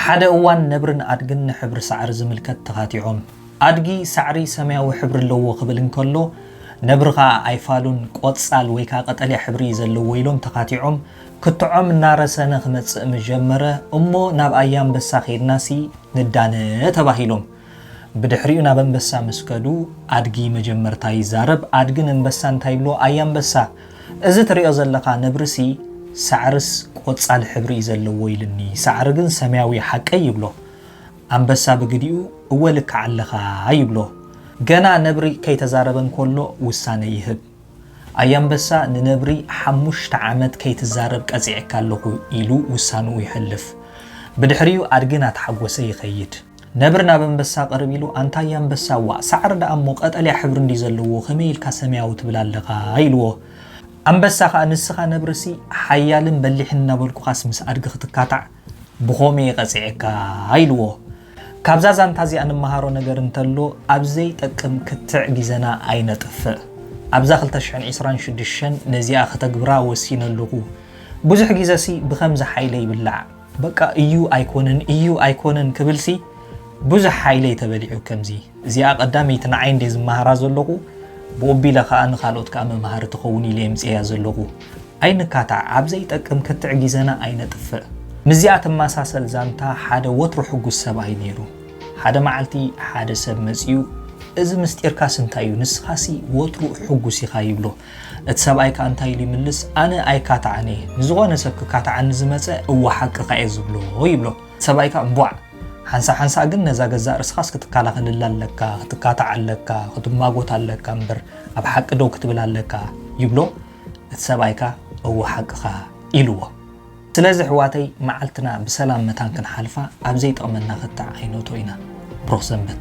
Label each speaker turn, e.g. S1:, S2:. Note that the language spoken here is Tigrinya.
S1: ሓደ እዋን ነብርን ኣድግን ንሕብሪ ሳዕሪ ዝምልከት ተኻቲዖም። ኣድጊ ሳዕሪ ሰማያዊ ሕብሪ ኣለዎ ክብል እንከሎ ነብሪ ከኣ ኣይፋሉን ቆጻል ወይ ከኣ ቀጠልያ ሕብሪ እዩ ዘለዎ ኢሎም ተኻቲዖም። ክትዖም እናረሰነ ክመጽእ ምስ ጀመረ እሞ ናብ ኣያንበሳ ከይድናሲ ንዳነ ተባሂሎም። ብድሕሪኡ ናብ ኣንበሳ ምስ ከዱ ኣድጊ መጀመርታ ይዛረብ፣ ኣድጊ ንንበሳ እንታይ ይብሎ፣ ኣየ ኣንበሳ እዚ ትርእዮ ዘለኻ ነብሪሲ ሳዕርስ ቆጻል ሕብሪ እዩ ዘለዎ ኢሉኒ ሳዕሪ ግን ሰማያዊ እዩ ሓቀይ ይብሎ። ኣንበሳ ብግዲኡ እወ ልክዕ ኣለኻ ይብሎ። ገና ነብሪ ከይተዛረበ እንከሎ ውሳነ ይህብ። ኣየ ኣንበሳ ንነብሪ ሓሙሽተ ዓመት ከይትዛረብ ቀጺዐካ ኣለኹ ኢሉ ውሳንኡ የሕልፍ። ብድሕሪኡ ኣድጊ ናተሓጎሰ ይኸይድ። ነብሪ ናብ ኣንበሳ ቅርብ ኢሉ ኣንታይ ኣንበሳዋ ሳዕሪ ደኣ እሞ ቀጠልያ ሕብሪ እንድዩ ዘለዎ ከመይ ኢልካ ሰማያዊ ትብል ኣለኻ ኢልዎ። ኣንበሳ ከኣ ንስኻ ነብሪሲ ሓያልን በሊሕን እናበልኩኻስ ምስ ኣድጊ ክትካታዕ ብኾምኡ እየ ቀጺዐካ ኢልዎ። ካብዛ ዛንታ እዚኣ ንመሃሮ ነገር እንተሎ ኣብ ዘይጠቅም ክትዕ ግዘና ኣይነጥፍእ። ኣብዛ ክልተ ሽሕን ዕስራን ሽዱሽተን ነዚኣ ከተግብራ ወሲነ ኣለኹ። ብዙሕ ግዘሲ ብኸምዚ ሓይለ ይብላዕ። በቃ እዩ ኣይኮነን እዩ ኣይኮነን ክብልሲ ብዙሕ ሓይለይ ተበሊዑ ከምዚ እዚኣ ቀዳመይቲ ንዓይ እንዴ ዝመሃራ ዘለኹ ብኡቢለ ከኣ ንካልኦት ከኣ መምሃሪ ትኸውን ኢለ የምጽኤያ ዘለኹ ኣይንካታዕ ኣብ ዘይጠቅም ክትዕ ጊዘና ኣይነጥፍእ ምስዚኣ ትመሳሰል ዛንታ ሓደ ወትሩ ሕጉስ ሰብኣይ ኔሩ ሓደ መዓልቲ ሓደ ሰብ መጺኡ እዚ ምስጢርካስ እንታይ'ዩ ንስኻሲ ወትሩ ሕጉስ ኢኻ ይብሎ እቲ ሰብኣይ ከኣ እንታይ ኢሉ ይምልስ፣ ኣነ ኣይካታዕን እየ፣ ንዝኾነ ሰብ ክካታዓኒ ዝመጸ እወ ሓቅኻ እየ ዝብሎ ይብሎ። እቲ ሰብኣይ ከኣ እንቧዕ! ሓንሳእ ሓንሳእ ግን ነዛ ገዛእ ርእስኻስ ክትከላኸለላ ኣለካ፣ ክትካታዓ ኣለካ፣ ክትማጎታ ኣለካ እምበር ኣብ ሓቂ ደው ክትብል ኣለካ ይብሎ። እቲ ሰብኣይ ከኣ እወ ሓቅኻ ኢልዎ። ስለዚ ኣሕዋተይ መዓልትና ብሰላም መታን ክንሓልፋ ኣብ ዘይጠቕመና ክትዕ ኣይነእቶ ኢና። ብሩኽ ሰንበት።